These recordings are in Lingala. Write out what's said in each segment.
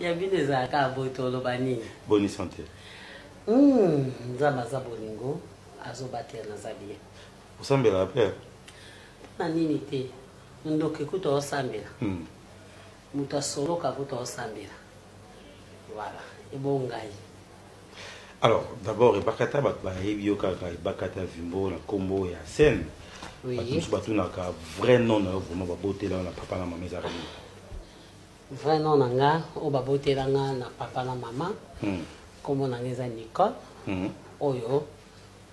ya bino ezala kaka boye toloba nini boni sante hmm, nzambe aza bolingo azobatela naza bien osambelaka mpe mpona nini te ndoki kutu aosambela hmm. moto asoloka kutu aosambela voilà ebo ngai alors d'abord ebakata bato bayebi yo kaka ebakata vimbo na nkombo ya scène bato mosusu batunaka vrai nom na yo vraiment babotela yo na papa na mama ezalaka nini vrai nom na nga oyo babotela nga na papa na mama hmm. nkombo na nga eza nicole hmm. oyo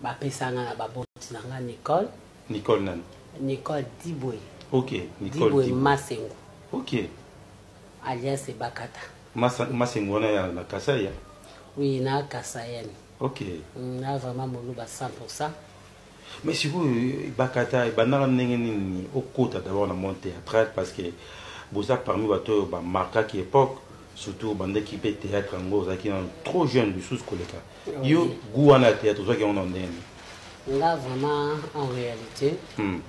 bapesa nga na baboti na nga nicole nicole nani nicole dibwe ok nicole dibwe masengo ok alias ebakata masengo wana ya na kasaya oui na kasayani ok mm, na vraiment moluba 100 mais sikoyo ebakata ebandaka ndenge nini okota d'abord na monde théâtral parce que boza parmi bato oyo bamarkaki époque surtout obandaki mpe théâtre yango ozalaki na trop jeune lisusu koleka yo goût wana ya théâtre ozwaki yango na ndenge nini nga vraiment en réalité hmm.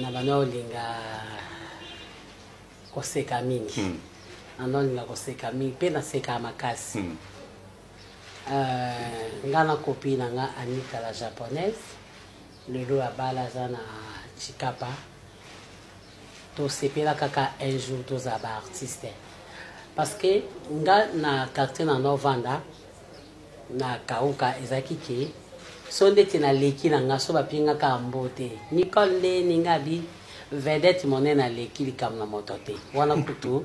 na bana olinga koseka mingi hmm. nanolinga koseka mingi mpe naseka makasi hmm. Euh, nga na copie na nga Anita la japonaise lelo abala aza na chikapa tosepela kaka un jour tozala ba artiste parce que nga na quartier na novanda na kauka ezalaki ke so ndeti naleki na nga so bapengaka mbo te nicole nde ninga bi vedete monene aleki likambo na moto te wana kutu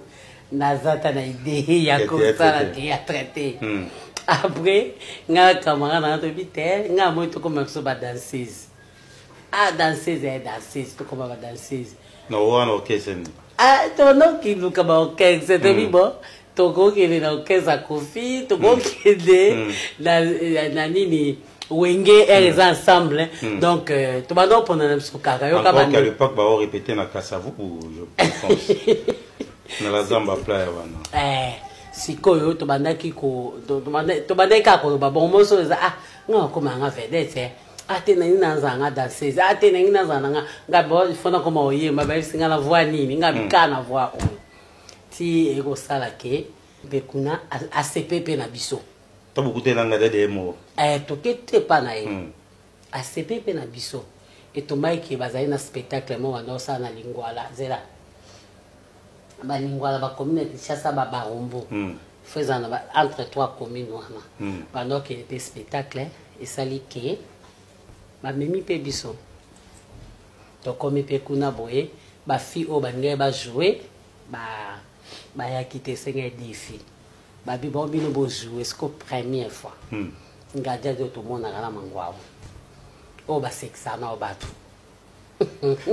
naza ta na idee ya kosala théâtre te hmm. après nga na camarade nanga toyebi te nga moi tokoma biso badanseuse a ah, danseuse ya eh, danseuse tokoma badanseuse wana okeseni ah, tonokiluka baorchestre toyebi hmm. bo tokokende na orchestre ya kofi tokokende hmm. na nini wenge ere eza ensemble hmm. donc euh, tobanda kopona na biso kaka yokaale epoque bao répété na kasavuku je pense na la zamba playa wana eh, sikoyo tobandaki tobandaki kaka koloba bon moso eza ah nga okoma yanga vedete eh. ate ah, nangi nazala nga danseuse ate ah, nangi nazala nanga nga bo il faut nakoma oyemba bayebisi nga na voi nini nga bikaa hmm. na voi oyo ti ekosala ke mpe kuna asepe mpe na biso to bokute na ngai dede ye moko eh, toke te epa na ye mm. asepe mpe na biso etombai ke bazali na spectacle moko banda osala na lingwala zela balingwala bakomi na kinshasa babarombo mm. fo eza na entre trois commune wana mm. banda okende mpe spectacle esali ke bamemi mpe biso tokomi mpe kuna boye bafille oyo balingai bajoue bayaki te esengai defi babi bao bino bozwi esco première fois hmm. ngadi adi oyo tomonaka na mangwau oyo basekisaka nao bato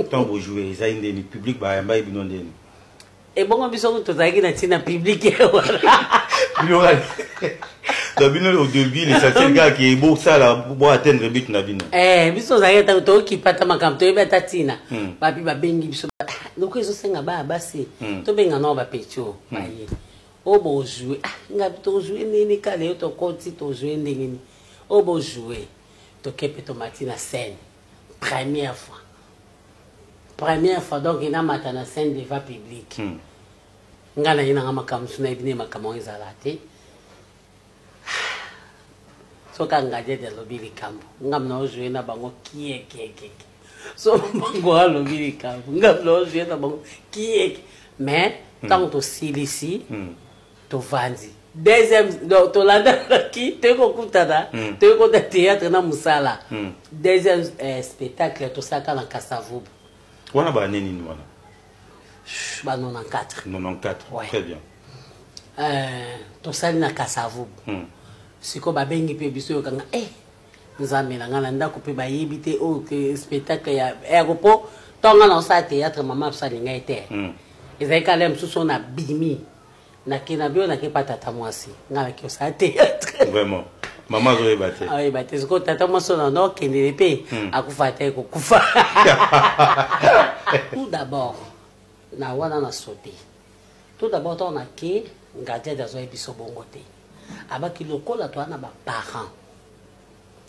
ntango bojoue ezali ndeni publike bayambaki bino ndeni ebongo biso tozalaki na ntina publike wana na bino au début l'essentiel kaka ke bosala bo atteindre but na bino eh, biso tozalaki ntango tokipa ata makambo toyebi ata ntina hmm. bapi babengi biso loko ezosenga baya basi hmm. tobenga nao bapetio baye oyo bozue ah, nga tozue nini kala yo tokoti tozue nde nini oyo bozue toke mpe tomati na scène première fois première fois donc enamata na scène devant public mm. nga naye nanga makambo so nayebi nde makambo yango ezala te soki angadiede alobi likambo ngambo na ozue na bango kiekiekeke so bango alobi likambo nga loje na bango kieki mais hmm. ntango tosilisi hmm. tovandi deuxième donc tolandaki toyei kokutana hmm. toyei kota théâtre na mosala deuxième eh, spectacle tosalaka na kasavubu wana baane nini wana ba 94 94 très bien eh, tosali na kasavubu sikoyo babengi mpe biso yokanga e eh, nzambe na ngai na ndako mpe bayebi te oyo oh, spectacle ya ero mpo ntango ngai naosala théâtre mama biso alinga ye te hmm. ezali kala ya mosusu oyo nabimi nake na bio nake pa tata mwasi ngai nake osala théâtre vraiment mama azoyeba te ayeba ah, te sikoyo tata mwasi oyo nano akendele mpe hmm. akufa ata ekokufa tout d'abord na wana na sote Tout d'abord to na ke ngadiadi azo biso bongo te. Abaki lokola to na ba parents.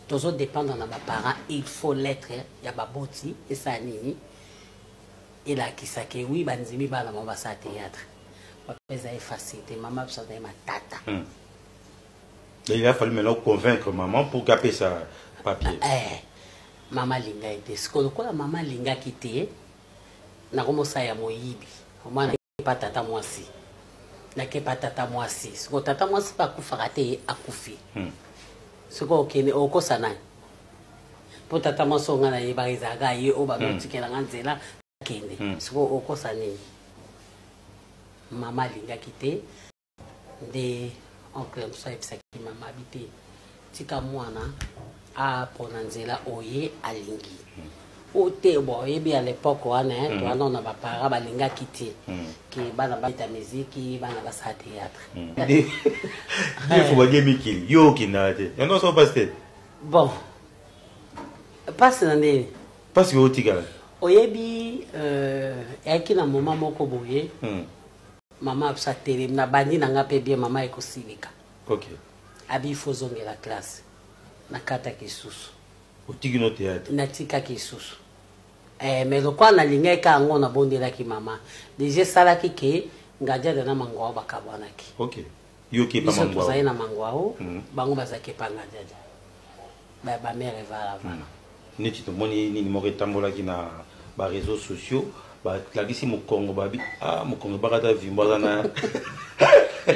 Tozo dépendre na ba parents, il faut l'être ya baboti esa nini? elakisa ke wi bandimi bana bango basala théâtre papa eza ye facile te mama biso azali matata hmm. il a fallu maintenant convaincre maman pour gape sa papier eh, mama alingaki te sikoyo lokola mama alingaki te na kombo sa ya moyibi omwana epa tata mwasi nakepa tata mwasi soko tata mwasi mpe akufaka te ye akufi hmm. soko okende okosa nani mpo tata mwasi oyo ngai nayebaka ezalaka ye oyo bazotikela hmm. ngai nzela akende hmm. soko okosa nini mama alingaki te nde oncle mosusu ayebisaki mama abi te tika mwana apona nzela oye alingi hmm. o te bo oyebi ya lepoke wana eh, hmm. towana na bapara balingaki te hmm. ke bana babeta miziki bana basala théâtre defo balie mikili yo okendaka te yango oso mpasi te bon mpasi na ndeni mpasi oyo otikala oyebi euh, eyaki na moma moko boye mama abso atelemi na bandi na nga mpe bien mama ekosilika okay. abi ifo ozongela classe nakataki isusu otiki no théâtre natikaki isusu eh, mais lokola nalingaki ka yango nabondelaki mama deja esalaki ke ngadiada na mangwao bakabwanaki okay. biso tozali na mangwao mm -hmm. bango bazalaki epa ngadiada ba ba mère evala vraiment neti tomoni nini moko etambolaki na ba réseaux sociaux balakisi mokongo babi ah mokongo ebaka ata vimbo aza na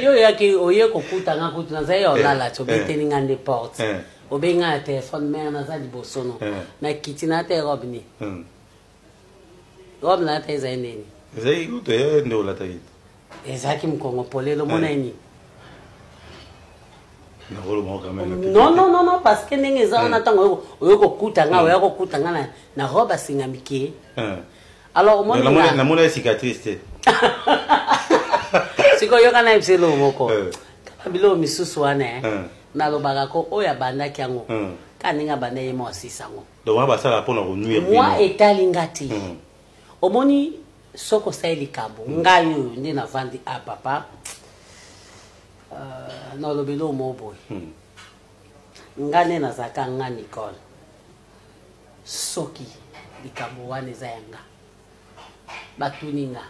yo oyaki oye kokuta nga kutu nazali ya olala ti obeteli nga nde porte obengi nga na telefone mare naza liboso no nakiti na te robe nini Robe na lata ezali nini? Ezali kutu ya nde olataki. Ezalaki mkongo polelo mona eh. nini? non non non non parce que ndenge eza wana ntango eh. oyo kokuta nga eh. oya kokuta nga na robe asinga mike eh. alors omonamona ye cicatrice te sikoyo yoka na yebisa eloko moko kaka biloko misusu wana nalobaka ko oyo abandaki yango kaka ndenge abanda ye mwa asisa yango donc wana basalaka mpo na konuire bino mwa etali nga te Mhm. omoni soki osali likambo ngai oyo nde navandi a papa euh, na olobeli oyo moo boye Mhm. nga nde nazalaka nga nicole soki likambo wana eza ya nga batuni nga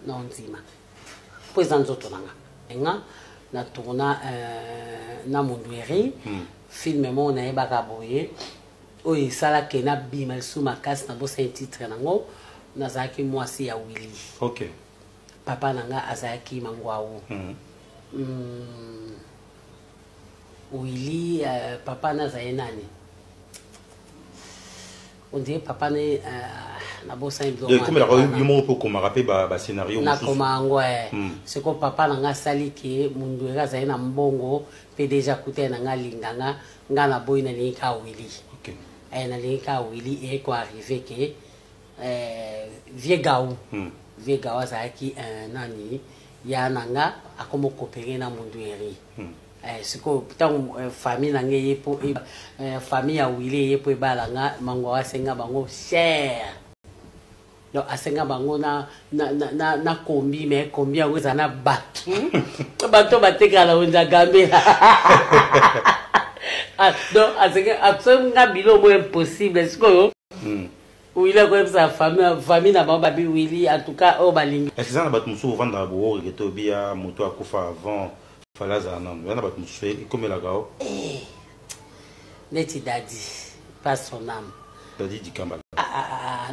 na ondima mpo eza nzoto na nga nga na tourna euh, na mundueri film moko nayebaka boye oyo esala ke nabima lisusu makasi nabosani titre nango nazalaki mwasi ya wili okay. papa na nga azalaki mangwau mm. Mm. Mm-hmm. wili uh, eh, papa na azali nani ondire papa na ye uh, nabosani bilokomelaka yo moko mpe okomaka mpe bascenario nakoma yango eh. mm. sikoyo papa na nga asali ke munduere azali na mbongo mpe deja kutai na nga alinganga nga na boyi na lingi ka Willy okay. eh, na lingi ka Willy et ko arriver que eh, vieux Gaou hmm. vieux Gaou azalaki eh, nani ya na nga akomo coopérer na Mundueri hmm. eh, sikoyo ntango eh, famille na nga eye mpo e, eh, famille ya wile eye mpo ebala nga mango asenga bango cher donc asenga bango na, na, na, na, na kombi me kombi yango eza na bato hmm? bato batekala wenza gambela ah, donc asenga asenga nga bilo mo impossible sikoyo hmm. wili akoyebisa famille na bango babi wili en tout cas oyo balingi eza na bato mosusu ovandaka boworeke to biya moto akufa avant fale azala nano eza na bato mosusu ekomelaka o eh, neti dadi pas son ame dadi dikambala ah, ah,